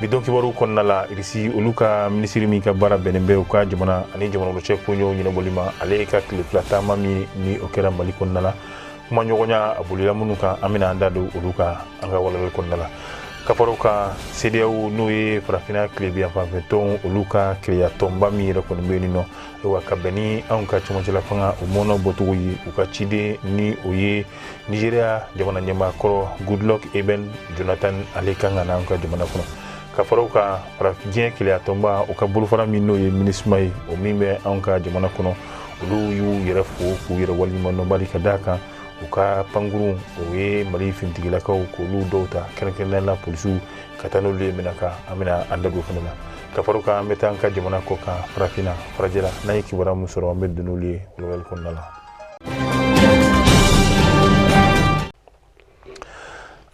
bi don kibaru kɔnɔna la irisi olu ka minisiri min ka baara bɛnnen bɛ u ka jamana ani jamana cɛ koɲɛw ɲɛnabɔli ma ale ka tile fila taama min ni o kɛra mali kɔnɔna la kuma ɲɔgɔnya a bolila minnu kan an bɛna an da don olu kan an ka walawali kɔnɔna la ka fara u kan cedeao n'o ye farafinna tilebinyanfan fɛ tɔn olu ka kelenya tɔnba min yɛrɛ kɔni bɛ yen nɔ wa ka bɛn ni anw ka cɛmancɛla fanga o mɔnɔ bɔcogo ye u ka ciden ni o ye nigeria jamana ɲɛmaakɔrɔ goodluck ebele jonathan ale kan ka na an ka jamana kɔnɔ ka fara u kan farafin diɲɛ kelenya tɔnba u ka bolofara min n'o ye minusma ye o min bɛ anw ka jamana kɔnɔ olu y'u yɛrɛ fo k'u yɛrɛ waleɲumandɔn bari ka d'a kan u ka pankurun o ye mali finitigilakaw k'olu dɔw ta kɛrɛnkɛrɛnnenya la polisiw ka taa n'olu ye menaka an bɛna an da don fana la ka fara u kan an bɛ taa an ka jamana kɔ kan farafinna farajɛla n'an ye kibaruya min sɔrɔ an bɛ don n'olu ye walawali kɔnɔna la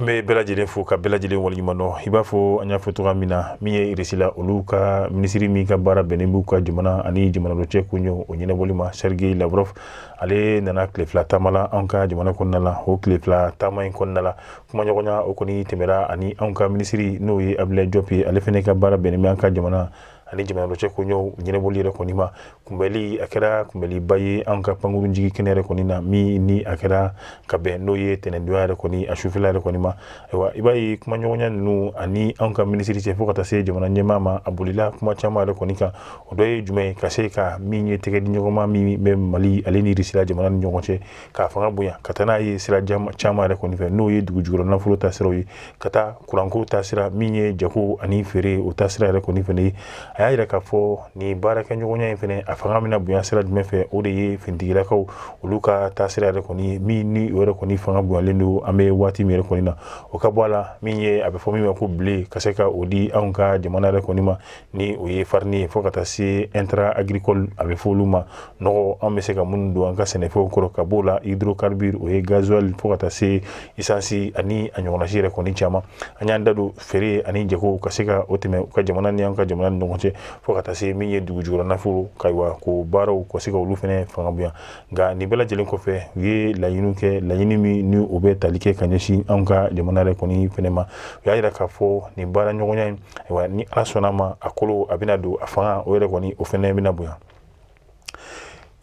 an bɛ bɛɛ lajɛlen fo ka bɛɛ lajɛlen waleɲumandɔn i b'a fɔ an y'a fɔ cogoya min na min ye irisi la olu ka minisiri min ka baara bɛnnen b'u ka jamana ani jamana dɔ cɛ koɲɛw o ɲɛnabɔli ma sergei lavrov ale nana tile fila taama la an ka jamana kɔnɔna la o tile fila taama in kɔnɔna la kumaɲɔgɔnya o kɔni tɛmɛra ani an ka minisiri n'o ye abdoulaye diop ye ale fana ka baara bɛnnen bɛ an ka jamana ani jamana dɔ cɛ koɲɛw ɲɛnabɔli yɛrɛ kɔni ma kunbɛli a kɛra kunbɛliba ye an ka pankurun jigin kɛnɛ yɛrɛ kɔni na min ni a kɛra ka bɛn n'o ye tɛnɛndonya yɛrɛ kɔni a sufɛla yɛrɛ kɔni ma ayiwa i b'a ye kumaɲɔgɔnya ninnu ani an ka minisiri cɛ fo ka taa se jamana ɲɛmaa ma a bolila kuma caman yɛrɛ kɔni kan o dɔ ye jumɛn ye ka se ka min ye tɛgɛ di ɲɔgɔnma min bɛ mali ale ni irisi la jamana ni ɲɔgɔn cɛ k'a fanga bonya ka taa n'a ye sira caman yɛrɛ kɔni fɛ n'o ye dugu jukɔrɔ nafolo ta siraw ye ka taa kuranko ta sira min ye jago ani feere o ta sira yɛrɛ kɔni fana ye a y'a yira k'a fɔ ni baarakɛɲɔgɔnya in fana a fanga bɛna bonya sira jumɛn fɛ o de ye finitigilakaw olu ka taa sira yɛrɛ kɔni ye min ni o yɛrɛ kɔni fanga bonyalen don an bɛ waati min yɛrɛ kɔni na o ka bɔ a la min ye a bɛ fɔ min ma ko blé ka se ka o di anw ka jamana yɛrɛ kɔni ma ni o ye farini ye fo ka taa se intrant agricole a bɛ fɔ olu ma nɔgɔ an bɛ se ka minnu don an ka sɛnɛfɛnw kɔrɔ ka b'o la hydrocarbure o ye gasoil fo ka taa se esansi ani a ɲɔgɔnnasi yɛrɛ kɔni caman an y'an da don feere ani jago ka se ka o tɛmɛ u ka jamana ni an ka jamana ni ɲɔgɔn cɛ fo ka taa se min ye dugu jukɔrɔ nafolo ayiwa ko baaraw ka se ka olu fana fanga bonya nka nin bɛɛ lajɛlen kɔfɛ u ye laɲini kɛ laɲini min ni o bɛ tali kɛ ka ɲɛsin anw ka jamana yɛrɛ kɔni fana ma u y'a yira k'a fɔ nin baara ɲɔgɔnya in ayiwa ni ala sɔnna ma a kolo a bɛna don a fanga o yɛrɛ kɔni o fana bɛna bonya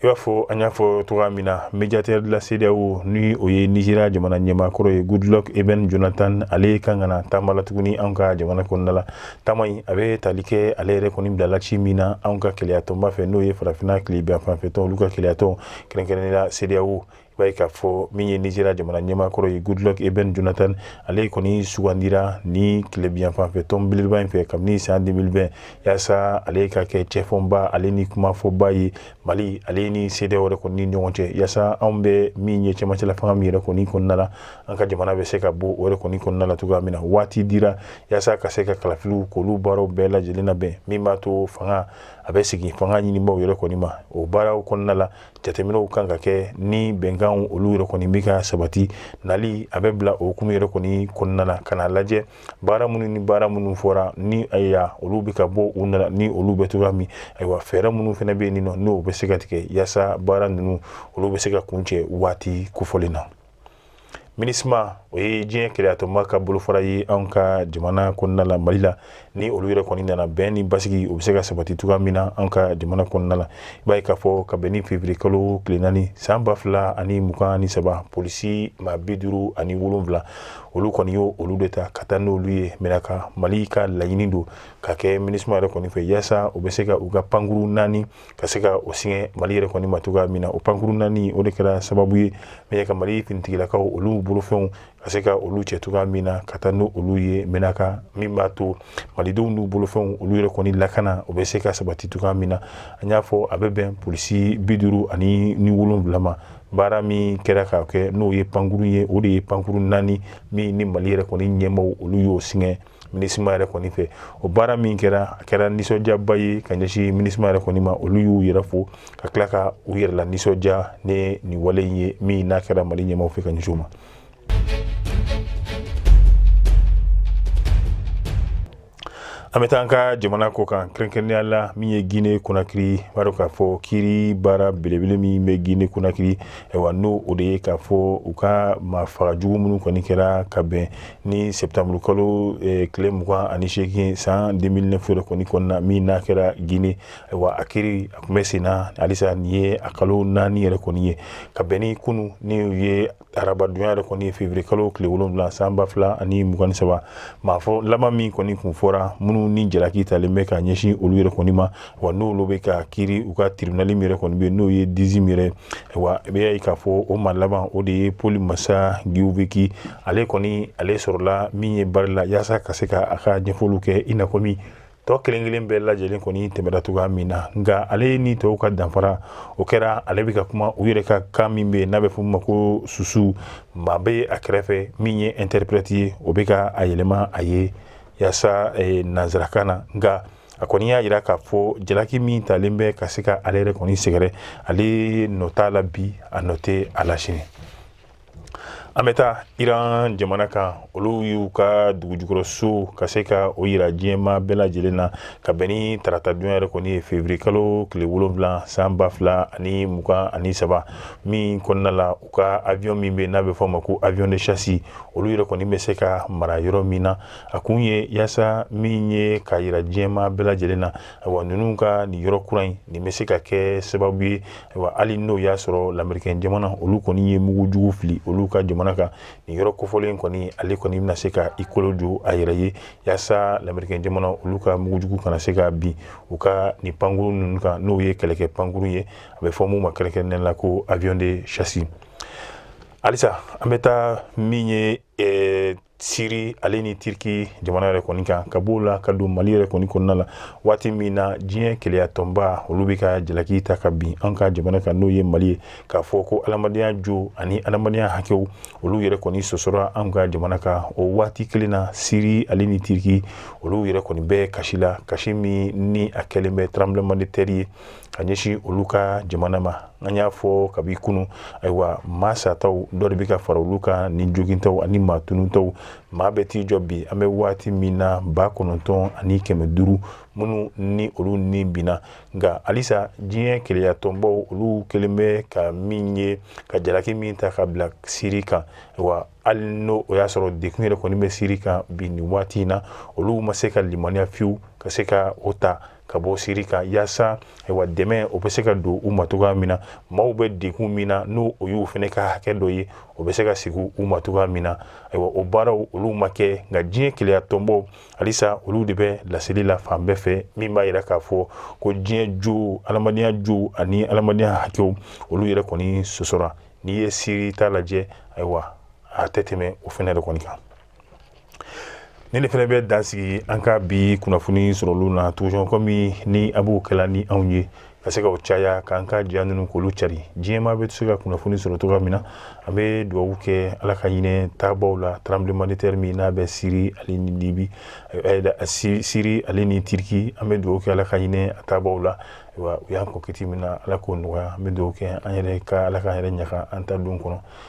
i b'a fɔ an y'a fɔ cogo min na médiateur de la cedeao ni o ye nigeria jamana ɲɛmaakɔrɔ ye goodluck ebele jonathan ale kan ka na taama la tuguni an ka jamana kɔnɔna la Taama in a bɛ tali kɛ ale yɛrɛ kɔni bilala ci min na anw ka kelenyatɔnba fɛ n'o ye farafinna tilebinyanfanfɛtɔn olu ka kelenyatɔn kɛrɛnkɛrɛnnenya CEDEAO i b'a ye k'a fɔ min ye Nizeriya jamana ɲɛmaakɔrɔ ye Goodluck Ebele Jonathan ale kɔni sugandira nin tilebinyanfanfɛtɔn belebeleba in fɛ kabini san 2020 yaasa ale ka kɛ cɛfɔbaa ale ni kumafɔbaa ye Mali ale ni CEDEAO yɛrɛ kɔni ni ɲɔgɔn cɛ yaasa anw bɛ min ye cɛmancɛlafanga min yɛrɛ kɔni kɔnɔna la an ka jamana bɛ se ka bɔ o yɛrɛ kɔni kɔnɔna la cogoya min na waati dira yasa ka se ka kalafiliw k'olu baaraw bɛɛ lajɛlen labɛn min b'a to fanga a bɛ segin fanga ɲinibaaw yɛrɛ kɔni ma o baaraw kɔnɔna la jateminɛw kan ka kɛ ni bɛnkanw olu yɛrɛ kɔni bɛ ka sabati nali a bɛ bila o hukumu yɛrɛ kɔni kɔnɔna la ka n'a lajɛ baara minnu ni baara minnu fɔra ni ayiwa olu bɛ ka bɔ u nana ni olu bɛ cogoya min ayiwa fɛɛrɛ minnu fana bɛ yen nɔ n'o bɛ se ka tigɛ yasa baara ninnu olu bɛ se ka kuncɛ waati kofɔlen na minisma o ye diɲɛ kelenyatɔnba ka bolofara ye anw ka jamana kɔnɔna la mali la ni olu yɛrɛ kɔni nana bɛn ni basigi o bɛ se ka sabati cogoya min na an ka jamana kɔnɔna la i b'a ye k'a fɔ ka bɛn ni feburuye kalo tile naani san ba fila ani mugan ni saba polisi maa bi duuru ani wolonwula olu kɔni ye olu de ta ka taa n'olu ye Menaka mali ka laɲini don ka kɛ minisma yɛrɛ kɔni fɛ yaasa u bɛ se ka u ka pankuru naani ka se ka o singa mali yɛrɛ kɔni ma cogoya min na o pankuru naani o de kɛra sababu ye min ye ka mali finitigilakaw olu bolofɛnw ka se ka olu cɛ cogoya min na ka taa n'olu ye Menaka min b'a to malidenw n'u bolofɛnw olu yɛrɛ kɔni lakana o bɛ se ka sabati cogoya min na an y'a fɔ a bɛ bɛn polisi bi duuru ani ni wolonwula ma baara min kɛra k'a kɛ n'o ye pankuru ye o de ye pankuru naani min ni mali yɛrɛ kɔni ɲɛmaaw olu y'o singa minisma yɛrɛ kɔni fɛ o baara min kɛra a kɛra nisɔndiyaba ye ka ɲɛsin minisma yɛrɛ kɔni ma olu y'u yɛrɛ fo ka tila ka u yɛrɛ lanisɔndiya ni nin wale in ye min n'a kɛra mali ɲɛmaaw fɛ ka ɲɛsin u ma an bɛ taa an ka jamana kɔkan kɛrɛnkɛrɛnnenya la min ye gine konakiri b'a dɔn k'a fɔ kiri baara belebele min bɛ gine konakiri ayiwa n'o de ye k'a fɔ u ka maafaga jugu minnu kɔni kɛra ka bɛn ni sɛtanburu kalo eh, tile mugan ani seegin san deux mille neuf yɛrɛ kɔni kɔnɔna min n'a kɛra gine wa a kiri a tun bɛ sen na halisa nin ye a kalo naani yɛrɛ kɔni ye ka bɛn ni kunun n'o ye arabadon ye yɛrɛ kɔni feburuye kalo tile wolonwula san ba fila ani mugan saba maa fɔ laban min kɔni tun fɔra minnu ni jalaki talen bɛ ka ɲɛsin olu yɛrɛ kɔni ma wa n'olu bɛ ka kiri u ka tiribunali min yɛrɛ kɔni bɛ yen n'o ye Dixinn yɛrɛ wa i bɛ y'a ye k'a fɔ o maa laban o de ye Paul Mansa Guilavogui ale kɔni ale sɔrɔla min ye barre la yaasa ka se ka a ka ɲɛfɔliw kɛ i n'a fɔ min tɔ kelen kelen bɛɛ lajɛlen kɔni tɛmɛna cogoya min na nka ale ni tɔw ka danfara o kɛra ale bɛ ka kuma u yɛrɛ ka kan min bɛ yen n'a bɛ f'o ma ko susu maa bɛ a kɛrɛfɛ min ye interprète ye o bɛ ka a yɛlɛma a ye yaasa eh, nanzarakan na nka a kɔni y'a yira k'a fɔ jalaki min talen bɛ ka se ka ale yɛrɛ kɔni sɛgɛrɛ ale nɔ t'a la bi a nɔ tɛ a la sini an bɛ taa iran jamana kan olu y'u ka dugujukɔrɔso ka se ka o yira diɲɛmaa bɛɛ lajɛlen na ka bɛn ni taratadon yɛrɛ kɔni ye février kalo tile wolonwula san ba fila ani mugan ani saba min kɔnɔna la u ka avion min bɛ n'a bɛ fɔ a ma ko avion de chasse olu yɛrɛ kɔni bɛ se ka mara yɔrɔ min na a kun ye yaasa min ye k'a yira diɲɛmaa bɛɛ lajɛlen na ayiwa ninnu ka nin yɔrɔ kura in nin bɛ se ka kɛ sababu ye ayiwa hali n'o y'a sɔrɔ lamerikɛn jamana olu kɔni ye mugu jugu fili olu ka jamana kan nin yɔrɔ kofɔlen kɔni ale kɔni bɛna se ka i kolo jo a yɛrɛ ye yaasa lamerikɛn jamana olu ka mugu jugu kana se ka bin u ka nin pankuru ninnu kan n'o ye kɛlɛkɛ pankuru ye a bɛ fɔ min ma kɛrɛnkɛrɛnnen la ko avion de chasse halisa an bɛ taa min ye eh, siri ale ni tiriki jamana yɛrɛ kɔni kan ka b'o la ka don mali yɛrɛ kɔni kɔnɔna la waati min na diɲɛ kelenya tɔnba olu bɛ ka jalaki ta ka bin an ka jamana kan n'o ye mali ye k'a fɔ ko adamadenya jo ani adamadenya hakɛw olu yɛrɛ kɔni sɔsɔra an ka jamana kan o waati kelen na siri ale ni tiriki olu yɛrɛ kɔni bɛ kasi la kasi min ni a kɛlen bɛ tremblement de terre ye ka ɲɛsin olu ka jamana ma an y'a fɔ kabi kunun ayiwa maa sataw dɔ de bɛ ka fara olu kan ni jogintaw ani maa tununtaw maa bɛ t'i jɔ bi an bɛ waati min na ba kɔnɔntɔn ani kɛmɛ duuru minnu ni olu ni binna nka halisa diɲɛ kelenya tɔnbaw olu kɛlen bɛ ka min ye ka jalaki min ta ka bila siri kan wa hali n' o y'a sɔrɔ dekun yɛrɛ kɔni bɛ siri kan bi nin waati in na olu ma se ka limaniya fiyewu ka se ka o ta ka bɔ siri kan yaasa wa dɛmɛ o bɛ se ka don u ma cogoya min na maaw bɛ dekun min na n'o o y'u fana ka hakɛ dɔ ye o bɛ se ka sigi u ma cogoya min na ayiwa o baaraw olu ma kɛ nka diɲɛ kelenya tɔnbaw halisa olu de bɛ laseli la fan bɛɛ fɛ min b'a yira k'a fɔ ko diɲɛ jo adamadenya jo ani adamadenya hakɛw olu yɛrɛ kɔni sɔsɔra n'i ye siri ta lajɛ ayiwa a tɛ tɛmɛ o fana de kɔni kan nin de fana bɛ dan sigi an ka bi kunnafoni sɔrɔlenw na toujours kɔmi ni a b'o kɛla ni anw ye ka se ka o caya k'an ka ja ninnu k'olu cari diɲɛmaa bɛ se ka kunnafoni sɔrɔ cogoya min na an bɛ dugawu kɛ ala ka hinɛ taabaw la tremblement de terre min n'a bɛ siri ale ni libi eh, eh, siri ale ni tiriki an bɛ dugawu kɛ ala ka hinɛ a taabaw la u y'an kɔn kiti min na ala k'o nɔgɔya an bɛ dugawu kɛ an yɛrɛ ka ala k'an yɛrɛ ɲa ka an ta don kɔnɔ